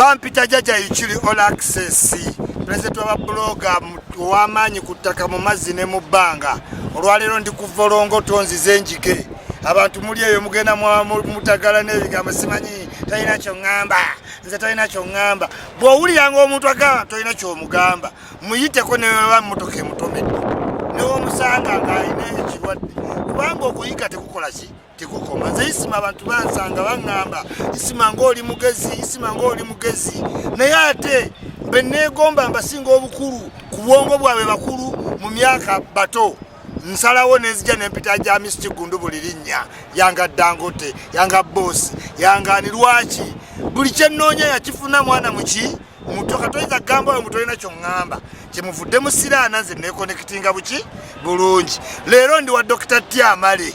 bampita jaja ikiri all access pulezidenti wababuloga ow'amaanyi ku ttaka mu mazzi ne mu bbanga olwaleero ndi ku volongo tonzize enjige abantu muli eyo mugenda mutagala n'ebigambo simanyi talina kyoŋŋamba nze talina kyoŋŋamba bw'owuliranga omuntu agamba tolina kyomugamba muyiteko neweba mmotoka emutomedde newomusanga ng'alina ekirwadde kubanga okuyiga tekukola ki tekukoma nze isima abantu bansanga baŋŋamba isima ng'oli mugezi isima ng'oli mugezi naye ate be neegomba mbasinga obukulu ku bwongo bwabwe bakulu mu myaka bato nsalawo nenzija nempita gya misiti gundu buli linnya yanga dangote yanga boosi yangaani lwaki buli kyennoonya yakifuna mwana muki muto katoyinza kugamba oyo mutolina kyoŋŋamba kyemuvudde musiraana nze nekonekitinga buki bulungi leero ndi wa dokita tyamale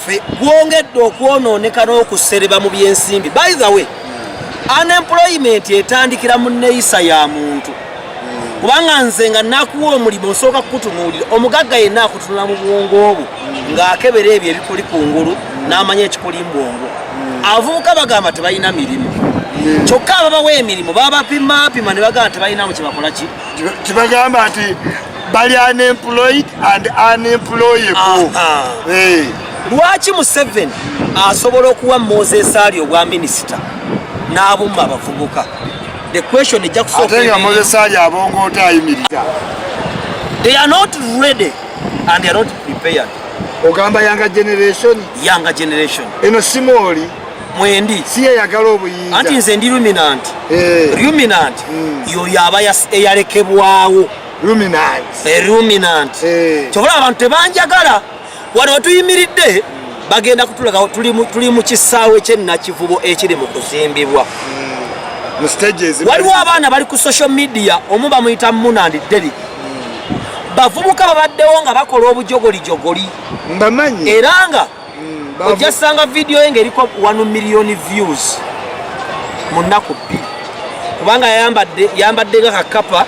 ffe gwongedde okwonooneka n'okusereba mu byensimbi by the way unemployment etandikira mu neyisa ya muntu kubanga nze nga nakuwa omulimu nsooka kukutunuulira omugagga yenna akutunula mu bwongo obwo ng'akebera ebyo ebikuli ku ngulu n'amanya ekikuli mu bwongo avubuka bagamba tebalina mirimu kyokka ababawa emirimu babapimapima ne bagamba tebalinamu kyebakola ki kibagamba nti bali unemployed and unemployable eh. lwaki museveni asobola okuwa moses ali obwa minisita n'abumma abavubuka the question ejja kusookatenga moses ali abongoota ayimiriza they are not ready and they are not prepared ogamba yanga generation yanga generation eno simooli mwendi siyeyagala obuyinza anti nze ndi luminant eh. luminant hmm. yoyo aba eyalekebwawo luminant eh, eh. kyobola abantu tebanjagala wano wetuyimiridde bagenda kutulaga tuli mu kisaawe kyenakivubo ekiri mu kuzimbibwa hmm. waliwo abaana bali ku social media omu bamuyita munandi derik bavubuka babaddewo nga bakola obujogolijogoli mbamanyi era nga mm, ojja sanga vidiyo ye ngaeriko 1 million views mu nnaku bbiri kubanga yambadde nga kakapa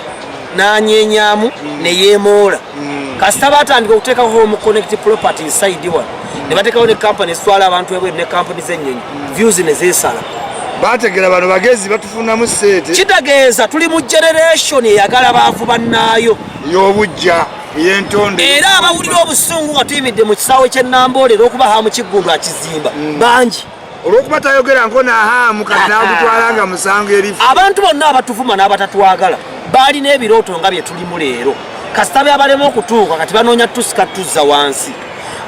nanyenyamu mm. neyemoola mm. kasita batandika okuteekako home connect property inside one nebatekawo ne kampani eswala abantu ebweru ne kampani zenyonyi views nezesala bategera bano bagezi batufunamu sente kitegeeza tuli mu generation eyagala baavu bannaayo ey'obujja era abawulira obusungu nga tuyimidde mu kisaawe ky'e Namboole era okuba haamu kiggundu akizimba mm. bangi olwokuba tayogera nko nahaamu kati ah, ah. nagutwala nga musango erifu abantu bonna abatuvuma n'abatatwagala baalina ebirooto nga bye tulimu leero kasita byabalema okutuuka kati banoonya tusika tuzza wansi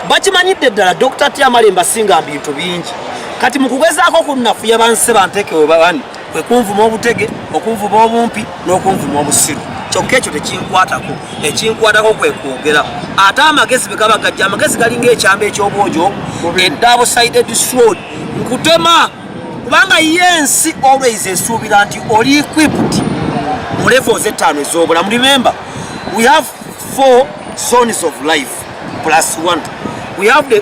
bakimanyidde ddala dr tiamalemba singa mbintu bingi kati mu kugezaako kunnafuya bansi bantekewe bani kwe kunvuma obutege okunvuma obumpi n'okunvuma obusiru kyokka ekyo tekinkwatako ekinkwatako kwe kwogera ate amagezi bwe gaba gajja amagezi galinga ekyamba eky'obwojo eddaabo side disrod nkutema kubanga ye ensi always esuubira nti oli equipped mu levo z'ettaano ez'obulamu remember we have four zones of life plus one we have the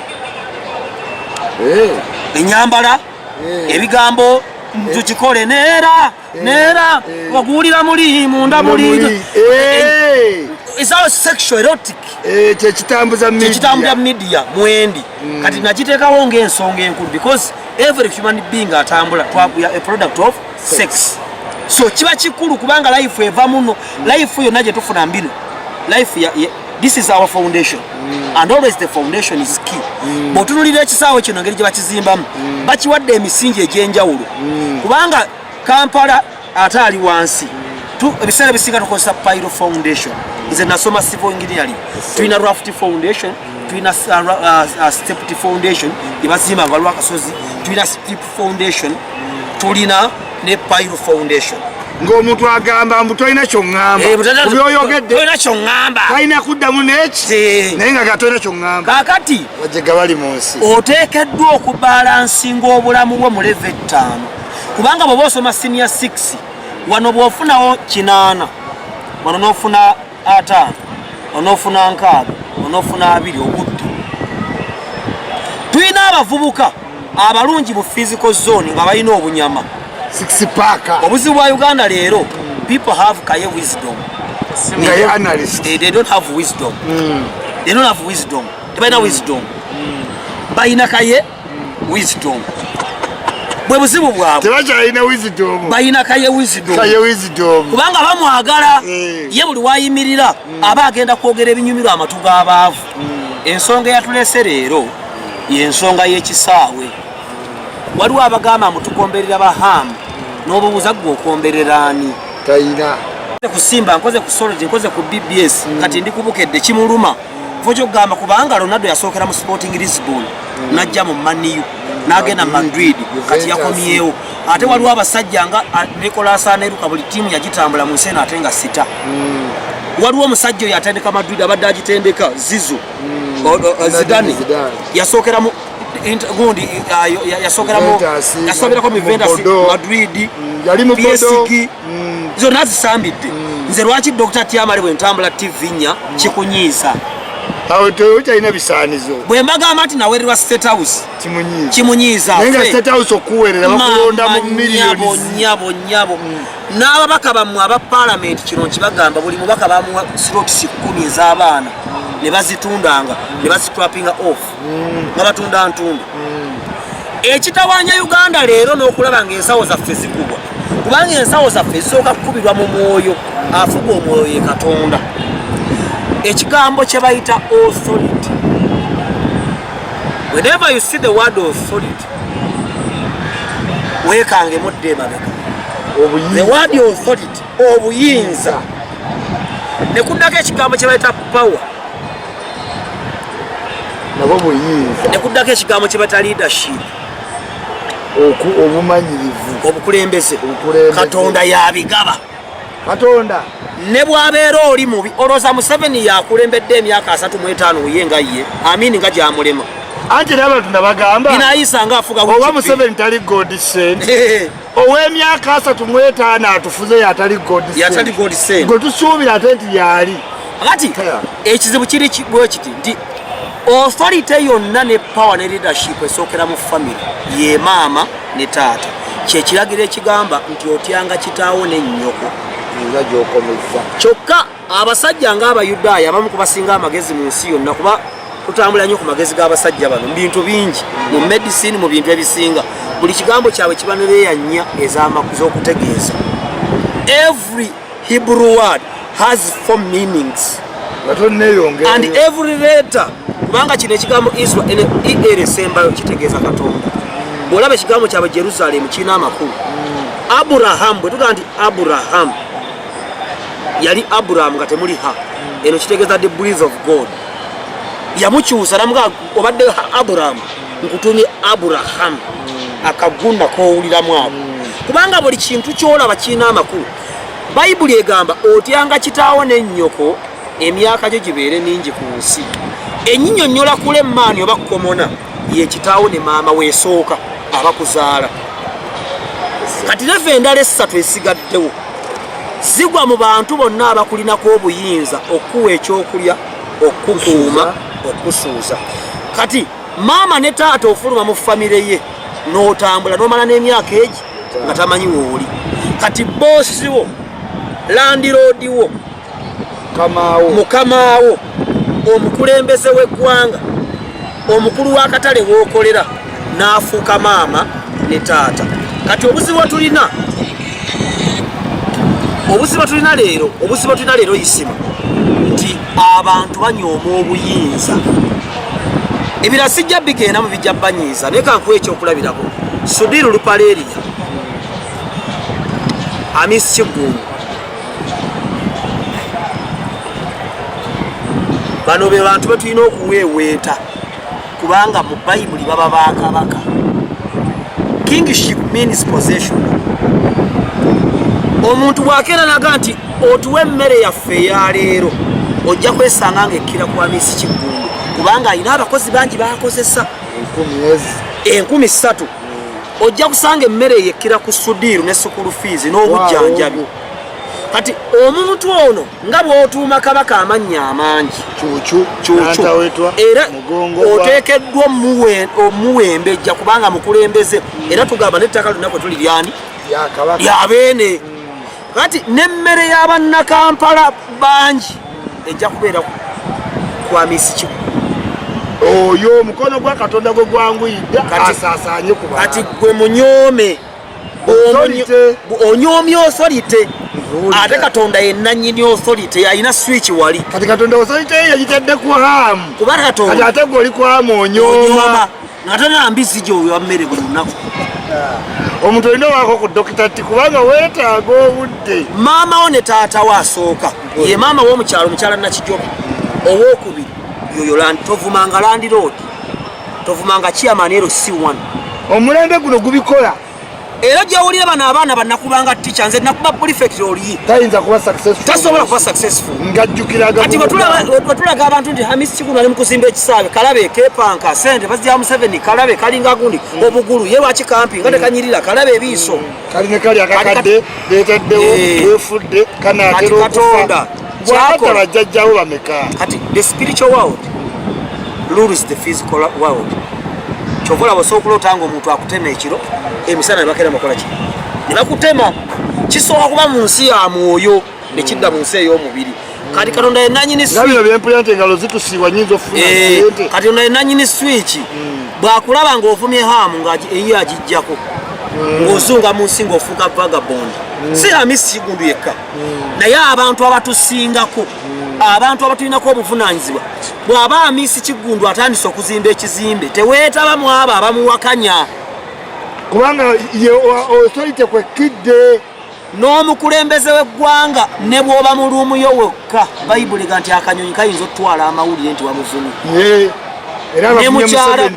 eh. enyambala eh. ebigambo tukikole neera eh. neera eh. okuwulira muli munda muli eh. isawo sexual erotic kyekitambuza kyekitambuza media mwendi mm. kati nakiteekawo ngaensonga enkulu because every human being atambula twakuya a product of sex so kiba kikulu kubanga life eva muno life yonna gyetufuna mbino life this is our foundation mm. and always the foundation is key mm. bwotunulira ekisaawe kino ngeri gye bakizimbamu mm. bakiwadde emisingi egy'enjawulo mm. kubanga kampala ate ali wansi mm. ebiseera bisinga tukozesa pyro foundation nze nasoma civil engineering tulina raft foundation mm. tulina uh, uh, uh, stepty foundation gyebazimba nga lwakasozi tulina foundation tulina ne pile foundation ng'omuntu agamba mbu tolina kyoŋambabyoyogeddeolina eh, kyoŋamba talina kuddamu neki naye nga gatolina kyoŋamba kakati wajega bali mu nsi oteekeddwa okubalansinga obulamu bwo mu leve ettaano kubanga bweoba osoma siniya 6 wano bwofunawo kinaana wano nofuna ataano onofuna nkaaga onofuna abiri obudde tulina abavubuka abalungi mu physical zone nga balina obunyama obuzibu bwa uganda leero people have kaye wisdom eh, they don't have wisdom hmm. they don't have wisdom tebalina wisdom hmm. balina kaye wisdom bwe buzibu bwabwe tebakyalina wisdom balina kaye wisdom kaye wisdom kubanga bamwagala eh. ye buli wayimirira mm. aba agenda kwogera ebinyumirwa amatu g'abaavu mm. ensonga eyatulese leero yensonga y'ekisaawe waliwo abagamba mutukomberera bahamu n'obubuza gwe okomberera ani talina kusimba nkoze ku sology nkoze ku bbs mm. kati ndi kubukedde kimuluma kujogamba kubanga Ronaldo yasookera mu Sporting Lisbon mm. najja mu Man U nagenda mu Madrid kati yakomyewo ate mm. waliwo abasajja nga ah, Nicolas Anelka buli tiimu yagitambula mu nsi eno ate nga sita mm. waliwo omusajja oyo atendeka Madrid abadde agitendeka Zizu Zidane yasookera mu gundi ah, yasookera mu yasoberako mu Juventus Madrid yali mu PSG mm. zonna zisambidde mm. nze lwaki dr tiamale bwe ntambula tv nya mm. kikunyiiza awo tokyalina bisaanizo bwe mbagamba nti nawererwa state house kimunyiiza naye nga state house okuwerera bakulonda mu miliyonnyabo nyabo n'ababaka bammwe aba palamenti kino nkibagamba buli mubaka bamuwa slots kumi ez'abaana ne bazitundanga ne bazitrapinga off mm. nga batunda ntundu mm. ekitawanya uganda leero n'okulaba nga ensawo zaffe zikubwa kubanga ensawo zaffe zisooka kukubirwa mu mwoyo afuga omwoyo ye katonda ekigambo kye bayita authority whenever you see the word authority weekangemu dde emabega the word authority obuyinza ne kuddako ekigambo kye bayita power nabo buyinza ne kuddako ekigambo kye bayita leadership obumanyirivu obukulembeze katonda yabigaba katonda ne bwabeera oli mubi olwoza museveni yakulembedde emyaka asatu mu etaano uye nga ye amini nga gyamulema anti era abantu nabagamba inayisa nga afuga oba museveni tali god sent ow'emyaka asatu mu etaano atufuze yatali gwe tusuubira ate nti yaali kati ekizibu kiri bwe kiti nti authority yonna ne power ne leadership esookera mu family ye maama ne taata kyekiragiro ekigamba nti otyanga kitaawo ne nnyoko nga gyokomezza kyokka abasajja nga abayudaaya abamu kubasinga amagezi mu nsi yonna kuba tutambula nnyo ku magezi g'abasajja bano mu bintu bingi mu medicine mu bintu ebisinga buli kigambo kyabwe kiba nereya nnya ezamaku z'okutegeeza every hebrew word has four meanings and every letter kubanga kino ekigambo israel er esembayo kitegeeza katonda bwolaba ekigambo kyabwe jerusalemu kirina amakulu mm. aburahamu bwe tugamba nti aburahamu yali abraham nga temuli ha eno kitegeza the breath of god yamukyusa namuga obadde abraham nkutumye abraham akagunda kowuliramu abo kubanga buli kintu kyolaba kirina amakulu bayibuli egamba otyanga kitaawo ne nnyoko emyaka gyo gibeere mingi ku nsi enyinyonyola kula emaani oba kukomona yekitaawo ne maama wesooka abakuzaala kati leva endala essatu esigaddewo zigwa mu bantu bonna abakulinako obuyinza okukuwa ekyokulya okukuuma okusuuza kati maama ne taata ofuluma mu famire ye n'otambula n'omala n'emyaka egi nga tamanyi wooli kati boosiwo landiroodiwo mukamaawo omukulembeze w'eggwanga omukulu w'akatale w'okolera n'afuuka maama ne taata kati obuzibu tulina obuzibu tulina leero obuzibu tulina leero isima nti abantu banyooma obuyinza ebira sijja bigenda mu bijja banyiiza naye kankuwa ekyokulabirako sudiru lupaleeriya amisi kiggungu bano be bantu betulina okuweeweeta kubanga mu bayibuli baba bakabaka kingship means possession omuntu bwakeeranaga nti otuwa emmere yaffe eyaleero ojja kwesanga nga ekkira kwa miisi kiggundu kubanga alina abakozi bangi bakozesa enkumi ssatu ojja kusanga emmere yekkira ku sudiiru ne sukulu fiizi n'obujjanjabi kati omuntu ono nga bw'otuuma kabaka amannya amangi era oteekeddwa omuwembejja kubanga mukulembeze era tugamba n'ettaka lyonna kwe tuli lyani lyabeene kati n'emmere ya bannakampala bangi ejja kubeera kwa misikimu oyo omukono gwa katonda gwe gwanguyidde asaasaanye ku kati gwe munyoome onyoomye osolite ate katonda yenanyini osolite alina swiki wali kati katonda osolite yeyitadde ku hamu kuba katonda ate gwe oli kwamu onyooma ngate na mbizzi gyowa mmere buli lunaku omuntu olina waako ku dokita ti kubanga weetaaga obudde maama wo ne taata wo asooka ye maama womukyalo omukyala nakijoba owokubiri yoyo tovumanga landiroodi tovumanga kiamani ero si one omulembe guno gubikola era gyowulira bano abaana banakubanga ticha nze nakuba prefect oli tayinza kuba successful tasobola kuba successful ngajjukiraga kati wetulaga abantu nti hamis kikulu ali mukuzimba ekisaabe kalabe kepanka sente bazija museveni kalabe kalinga gundi mm. obugulu ye lwaki kampi nga mm. tekanyirira kalabe ebiiso mm. kali ne kali akakadde betaddewo wefudde eh. kanaatera okufa gwakola bajjajjawo bameka kati the spiritual world rules the physical world kyova olaba osobola okuloota nga omuntu akutema ekiro emisana nebakera mukola ki nebakutema kisooka kuba mu nsi ya mwoyo nekidda mu nsi ey'omubiri kati katonda yenanyini eh, katonda yenanyini swiki hmm. bwakulaba ngaovumye hamu nga eyiyo agijjako hmm. ngaozunga mu nsi ngaofuuka vagabond hmm. si amisi kigundu yekka naye abantu abatusingako hmm. abantu abatulinako obuvunanyizibwa bwaba amisi kiggundu atandise okuzimba ekizimbe teweetaba mu abo abamuwakanya kubanga osolite kwekkidde n'omukulembeze w'eggwanga ne bw'oba mu luumu yo wekka bayibuli ga nti akanyonyi kayinza okutwala amawulire nti wamuvumi ne mukyala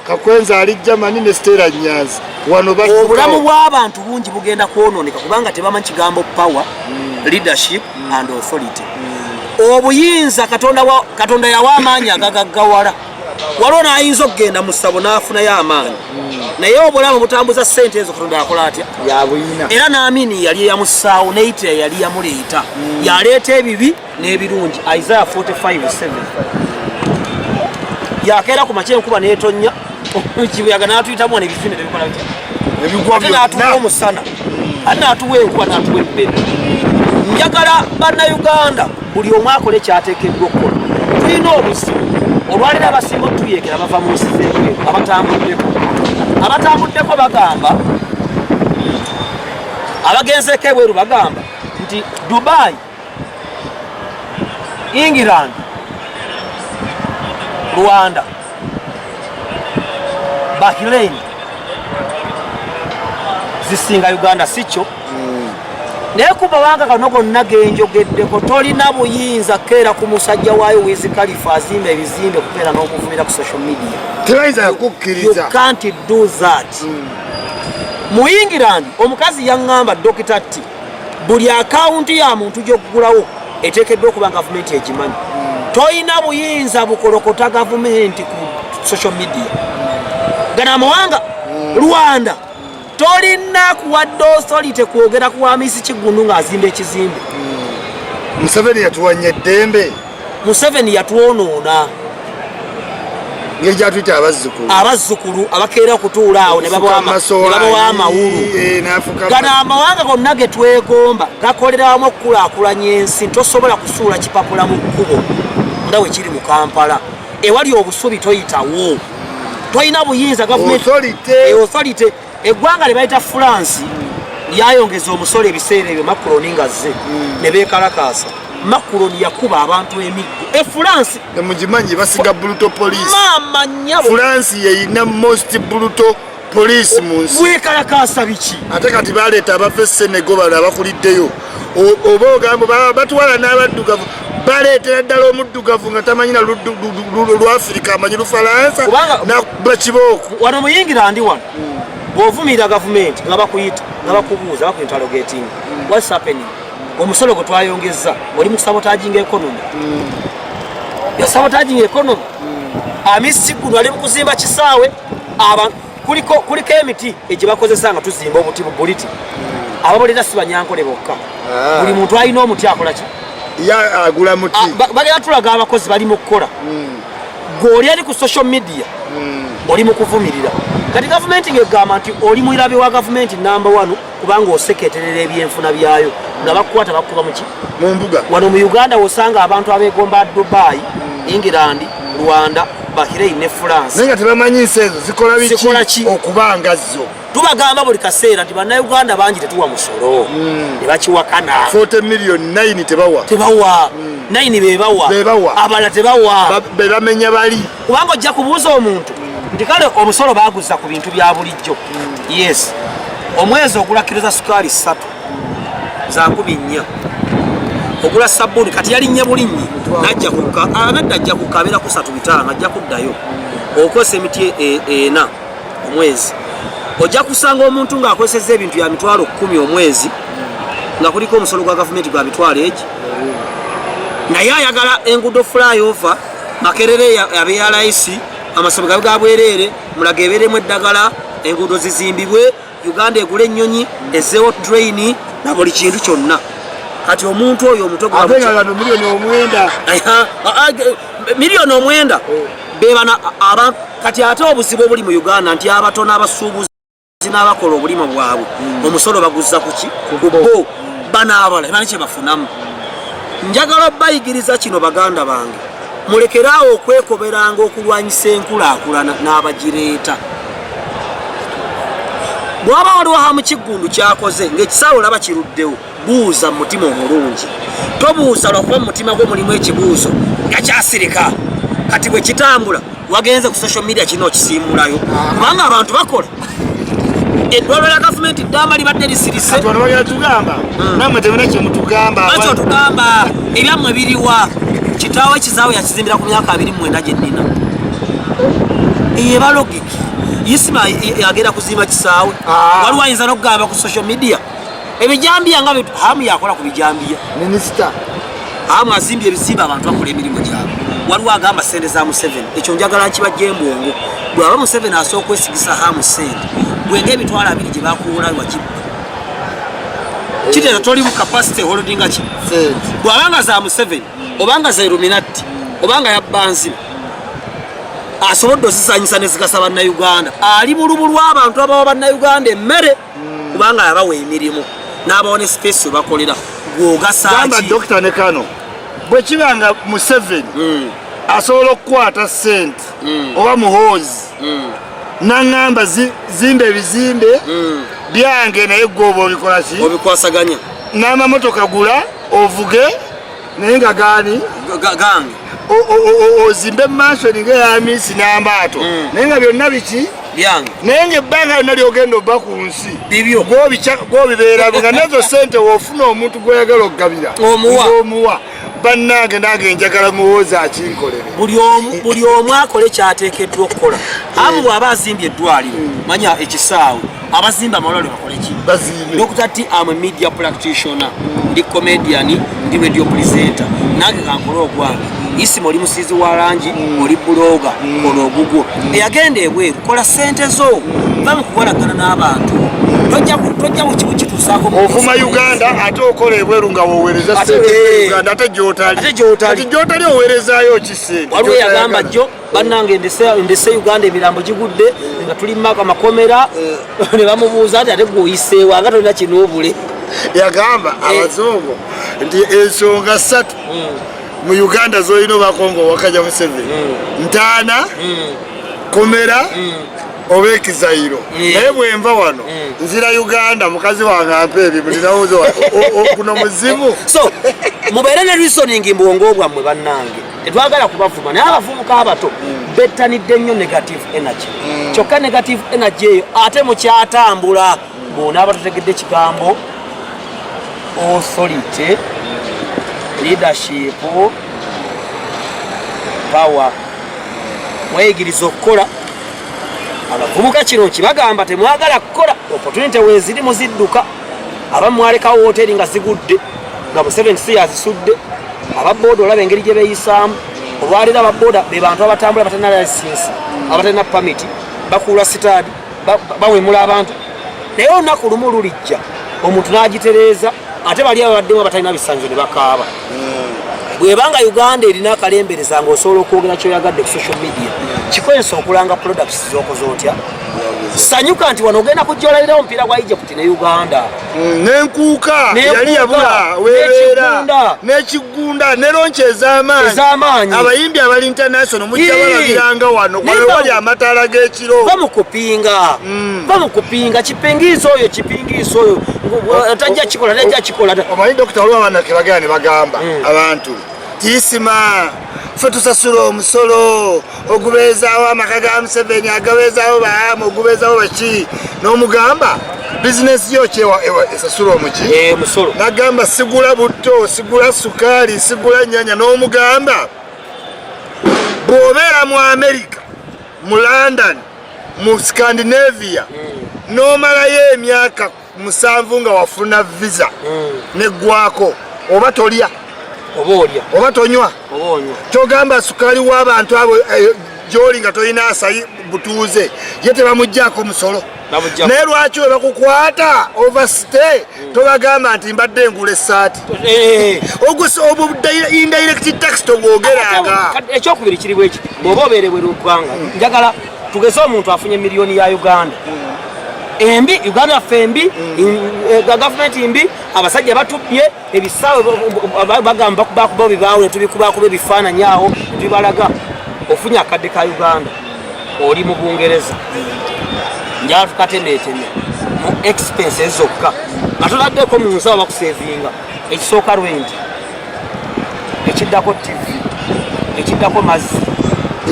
Kakwenza ali Germany ne Stella Nyanzi wano ba obulamu bw'abantu bungi bugenda kwonooneka kubanga tebamanyi kigambo power mm. leadership mm. and authority mm. obuyinza katonda, wa, katonda yawa amaanyi agagaggawala waliwo n'ayinza okugenda mu ssabo n'afunayo amaanyi mm. naye obulamu butambuza ssente ezo katonda yakola atya era n'amini yali eyamussaawo neyitira yali yamuleeta mm. yaleeta ebibi n'ebirungi isaya 457 yakeera ku makya enkuba n'etonnya kibuyaga n'atuyitamu wano ebifine tebikola bitya ate n'atuwa omusana ate n'atuwa enkuba n'atuwa ebbere njagala bannayuganda buli omu akola ekyateekeddwa okukola tulina obuzibu olwaliro abasinga otuyekera bava mu nsi z'ebweru abatambuddeko abatambuddeko bagamba abagenzeeko ebweru bagamba nti dubayi England, Rwanda, Bahrain zisinga Uganda sikyo mm. naye ku mawanga kano gonna genjogeddeko tolina buyinza keera ku musajja waayo wizi kalifa azimba ebizimbe kukeera n'okuvumira ku social media tebayinza kukkiriza you can't do that mm. mu england omukazi yaŋŋamba dokita tti buli akawunti ya muntu gy'okugulawo eteekeddwa okuba nga gavumenti egimanyi tolina buyinza bukolokota gavumenti ku social media gana amawanga rwanda tolina kuwadde osolite kwogera ku wamisi kiggundu ng'azimba ekizimbe museveni yatuwanya eddembe museveni yatwonoona ngeri gyatuyita abazzukulu abazzukulu abakeera okutuula awo ne babawa amawulu eh, gano amawanga gonna ge twegomba gakolera wamu okukulaakulanya ensi tosobola kusuula kipapula mu kkubo nga we kiri mu kampala ewali obusubi toyitawo tolina buyinza gavumenti eggwanga lyebayita france lyayongeza omusolo ebiseera ebyo makuroni nga zze hmm. ne beekalakaasa makuroni yakuba abantu emiggo e france emugimanyi basiga buluto police maama nyabo france yeyina most buluto police mu nsi weekalakaasa biki ate kati baleeta abava e senego bano abakuliddeyo oba ogambo batwala n'abaddugavu baleetera ddala omuddugavu nga tamanyi na lwafirika amanyi lufalansa bakibooku wano muyingira ndi wano bw'ovumirira gavumenti nga bakuyita nga bakubuuza bakuintalo getingi whats happening omusolo gwe twayongezza oli mu sabotaging economy mm. yasabotaging economy mm. amisi guno ali mu kuzimba kisaawe abantu kuliko kuliko emiti egyebakozesa nga tuzimba obuti bubuliti ababolera sibanyankole bokka ah. buli muntu alina omuti akolaki agula muti ah, bagenda tulaga abakozi bali mu kukola hmm. gweoli ali ku social media hmm. oli mu kuvumirira kati gavumenti ngegamba nti oli mulabe wa gavumenti namba one kubanga oseketerera ebyenfuna byayo nga bakukwata bakukuba muki mumbuga wano mu uganda wosanga abantu abegomba dubai hmm. england rwanda bahirei ne france naye nga tebamanyi nsi ezo zikola biki okuba nga zo tubagamba buli kaseera nti bannayuganda bangi tetuwa musolo hmm. ne bakiwakana 40 million 9 tebawa tebawa 9 hmm. bebawa abalala tebawa bebamenya bali kubanga ojja kubuuza omuntu nti kale omusolo baaguzza ku bintu bya bulijjo yes omwezi ogula kiro za sukaali ssatu za nkumi nnya ogula sabbuuni kati yalinnye bulinnyi najja kukka abadde ajja kukka abeera kusatu bitaano ajja kuddayo okozesa emiti e, e, ena omwezi ojja kusanga omuntu ng'akozesezza ebintu bya mitwalo kkumi omwezi nga kuliko omusolo gwa gavumenti gwa mitwalo egi naye ayagala enguudo flyover makerere yabe ya layisi amasomero gabe ga bwereere mulaga ebeeremu eddagala enguudo zizimbibwe uganda egula ennyonyi ezeewo traini na buli kintu kyonna kati omuntu oyo omutomiliyoni omwenda miliyoni omwenda bebana kati ate obuzibu obuli mu uganda nti abatono abasuubuzi zinabakola obulimo bwabwe mm. omusolo baguzza kuki kubo banaabala ebali kyebafunamu njagala bayigiriza kino baganda bange mulekeraawo okwekoberanga okulwanyisa enkulaakulana n'abagireeta bwaba waliwo hamukiggundu kyakoze ngaekisaawe olaba kiruddewo buuza mu mutima omulungi tobuuza lwakuba mu mutima gwo mulimu ekibuuzo nga kyasirika kati bwe kitambula wagenze ku social media kino okisiimulayo kubanga abantu bakola eddwaliro lya gavumenti ddamba libadde lisirisebagamba hmm. ebyammwe biriwa kitaawo ekizaawo yakizimbira ku myaka abiri mwenda gyennina ebalogiki isima yagenda kuzimba kisaawe ah. waliwo ayinza nokugamba ku social media ebijambiya nga hamu yakola ku bijambiya minisita hamu azimbye ebizimba abantu bakola emirimu gyabwe waliwo agamba sente za museveni ekyo njagala nkibajja embwongo bwaba museveni asobola okwesigisa hamu sente bwenga emitwalo abiri gye bakuwola wakibba kiteera toli mu kapasite holdinga ki bwaba nga za museveni obanga za iluminati obanga yabbanziba asobodde ozizanyisa nezigasa bannauganda ali mu lubu lw'abantu abawa bannauganda emmere hmm. kubanga yabawa emirimu n'abawa ne space we bakolera gwogasagamba dokita ne kano bwe kiba nga museveni hmm. asobola okukwata sente hmm. oba muhoozi naŋŋamba zimba ebizimbe byange naye gwoba obikolaki obikwasaganya n'amamotoka gula ovuge naye nga gaani gange ozimbe mansion nga eyamiisi n'amaato mm. naye nga byonna biki byange naye ngaebbanga lyonna lyogenda oba ku nsi bibyo gwobibeera nga nezo sente wofuna omuntu gwoyagala okugabira omuwa bannange nange njagala muwoozi akinkolere buli omu akole kyateekeddwa okukola amu bw'aba azimbye eddwaliro manya ekisaawe abazimba amalwaliro bakole ki bazimbe dr t am a media practitioner ndi comedian ndi radio presenter nange kankole ogwange isima oli musizi wa langi mm. oli buloga mm. ono ogugwo mm. eyagenda ebweru kola sente zo va mukukolagana n'abantu tojja kukitusaako ovuma uganda ate okola ebweru nga wowereza sente uganda ate gyotali ate gyotali owerezayo kisente waliwo yagamba jo bannange ndese uganda emirambo gigudde nga tuli mumaka amakomera eh. ne bamubuuza nti ate gweoyiseewo anga tolina kinoobule yagamba eh. abazungu nti ensonga ssatu hmm. mu uganda zolina obakonga owakaja museveni hmm. ntaana hmm. komera oba ekizayiro naye bwenva wano nzira uganda mukazi wange ampa ebimu ninawoza okuno muzimu so mubeere ne reasoning mbwongo bwammwe bannange tetwagala kubavuma naye abavubuka abato bettanidde nnyo negative energy mm. kyokka negative energy eyo ate mukyatambula bona abatutegedde ekigambo authority leadership power mweyigiriza okukola abavubuka kino kibagamba temwagala kukola opportunity weziri muzidduka abamu mwalekawo woteeri nga zigudde nga museveni si yazisudde ababooda olaba engeri gye beeyisaamu olwaleero ababooda be bantu abatambula batalina layisinsi abatalina pamiti bakuula sitaadi bawemula abantu naye olunaku lumu lulijja omuntu n'agitereeza ate bali ababaddemu abatalina bisanyizo ne bakaaba hmm. bwebanga uganda erina akalembereza nga osobola okwogera kyoyagadde ku social media kikozesa okulanga products zokoze otya sanyuka nti wano ogenda kujja olalirawo omupiira gwa egypt ne uganda mm, nenkuuka yali yabula webeera nekigunda ne lonki ezamaanyi abayimbi abali international mujja balabiranga wano kwewali amataala g'ekiro bamukupinga mm. bamukupinga kipingiisa oyo kipingiisa oyo tajja kikola tajja kikola omanyi dokita waliwo abaana kebagera ne bagamba mm. abantu tiisima fe tusasula omusolo ogubeezaawo amaka ga museveni agabeezaawo baamu ogubeezaawo baki n'omugamba bizinesi yo kyewa esasula omuki eh, nagamba sigula butto sigula sukaali sigula nyanya n'omugamba bw'obeera mu amerika mu london mu scandinavia hmm. n'omalayo emyaka musanvu nga wafuna visa mm. neggwako oba tolya oba olya oba tonywa kyogamba sukali w'abantu abo eh, gyoli nga tolina asayi butuuze ye tebamuggyako musolo naye lwaki we bakukwata overstay mm. tobagamba nti mbadde engula esaati eh, eh, indirect tax tobwogeranga ekyokubiri kiri bweki bwoba obeerebwe lugwanga mm. njagala tugeze omuntu afunye miliyoni ya uganda embi uganda ffe embi eh, gavumenti mbi abasajja batubbye ebisaawe bagamba bakubakuba bibaawo netubikubakuba ebifaananyi awo tubibalaga ofunye akadde ka uganda oli mu bungereza njala tukatemeeteme mu expenses zokka nga toladdeko mu nsawo bakusevinga ekisooka lwengi ekiddako tivi ekiddako mazzi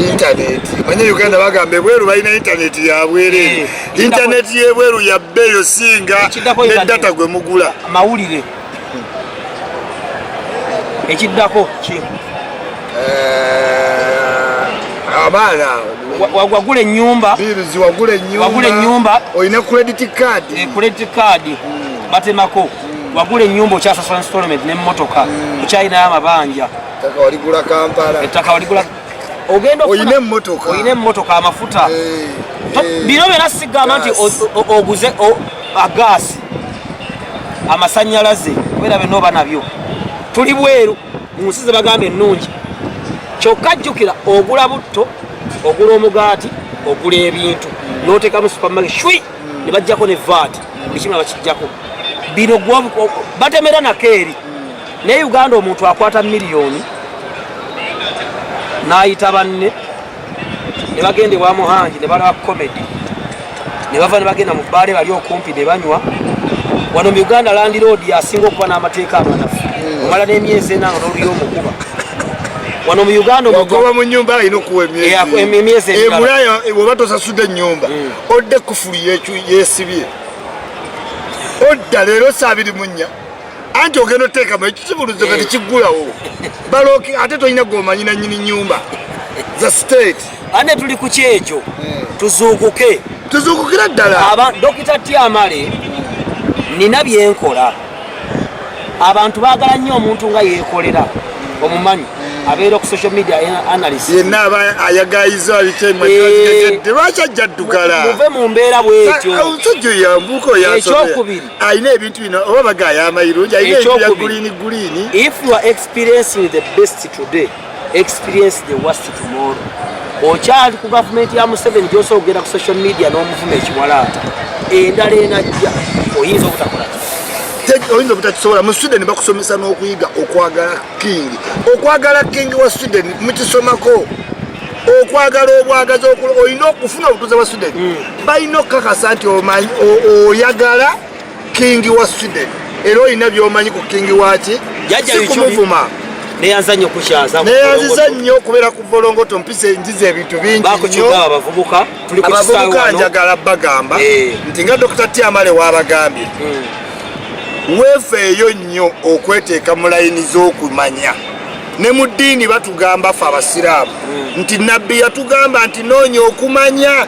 intaneti manye uganda bagamba ebweru balina intaneti yabwereere eh, intaneti yebweru yabbeeyo singa ne data gwe mugula mawulire ekiddako ki eh, abaana wagula enyumba wagula enyumba olina credit card eh, credit card hmm. batemako wagula enyumba okyasasula installment ne motoka mm. okyalinayo amabanja ettaka waligula kampala ettaka waligula ogenda oyina emotoka oyina emotoka amafuta eh, eh. bino byona sigamba nti oguze agaasi amasanyalaze kubera byona oba nabyo tuli bweru mu nsi zebagamba ennungi kyokka jjukira ogula butto ogula omugaati ogula ebintu mm. notekamu supermarket shwi mm. ne bajjako ne vat mm. buli kimu abakijjako bino batemera nakeeri mm. naye uganda omuntu akwata miliyoni n'ayita banne ne bagenda ewa muhangi ne balaba komedi ne bava ne bagenda mu bbaale bali okumpi ne banywa wano mu uganda landiroodi asinga okuba n'amateeka amanafu hmm. omala n'emyezi enanga n'oluyo omukuba wano mu uganda omugoba mu nyumba alina okuwa emyezi emulaya oba tosasudde enyumba hmm. odde kufulu yekyu yesibye odda leero saabiri munya anti ogenda oteekamu ekisibuluzo kati kiggulawo baloki ate tolina gwomanyi nanyini nyumba za state ane tuli ku kyekyo eh. tuzuukuke tuzuukukira ddala dokita tiamale nina byenkola abantu bagala nnyo omuntu nga yekolera omumanyi abeera ku social media analyst yenna aba ayagayiza abitemalwaki ajja ddugala muve mu mbeera bwetyomusajja yambuuka ekyokubiri alina ebintu bino oba bagaya amayirungi alina ebintu bya guliini guliini if you are experiencing the best today experience the worst tomorrow okyali ku gavumenti ya museveni gyosobola okugenda ku social media n'omuvuma ekiwalaata endala enajja oyinza obutakola oyinza obutakisobola mu sweden bakusomesa n'okuyiga okwagala kingi okwagala kingi wa sweden mukisomako okwagala obwagazi olina okufuna obutuuze bwa sweden hmm. balina okukakasa nti oyagala kingi wa sweden era olina byomanyi ku kingi waki sikumuvuma neyanzanyo kukyaza neyanziza nnyo okubeera ku bolongoto mpisa enjiza ebintu bingiabavubuka njagala bagamba eh. nti nga dokita tiamale wabagambye hmm. wefeeyo nnyo okweteeka mu layini z'okumanya ne mu ddiini batugamba fe abasiraamu hmm. nti nabbi yatugamba nti noonya okumanya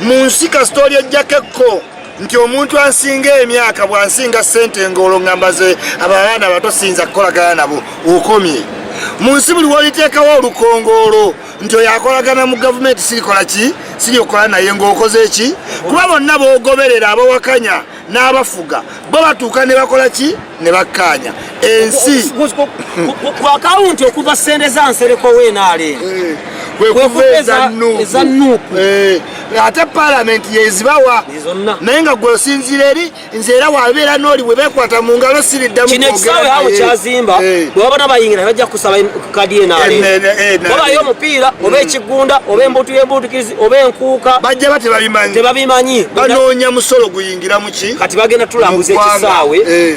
mu nsi kasita oli ejjako ekko nti omuntu ansinga emyaka bwansinga sente ngaolwo ngamba ze ababaana bato siyinza kukolagana nabo okomye mu nsi buli woliteekawo olukongoolo nti oyo akolagana mu gavumenti sirikola ki siri okola naye ngaokoze ki kuba bonna bogoberera abawakanya n'abafuga bo batuuka ne bakola ki ne bakkaanya ensi ku akawunti okuva ssente za nsereko wenaale eh, kwekuva eza nuupu eh, ate palamenti yezibawa naye nga gwe osinziira eri nze era wabeera nooli bwe bekwata mu ngalo siriddamu kino ekisaawe awo kyazimba eh. bwebabona bayingira bajja kusaba kadi eno ali oba yo mupiira oba mm. ekigunda oba embutu y'embutukizi oba enkuuka bajja ba tebabimanyi tebabimanyi banoonya musolo guyingira mu ki kati bagenda tulambuza ekisaawe eh.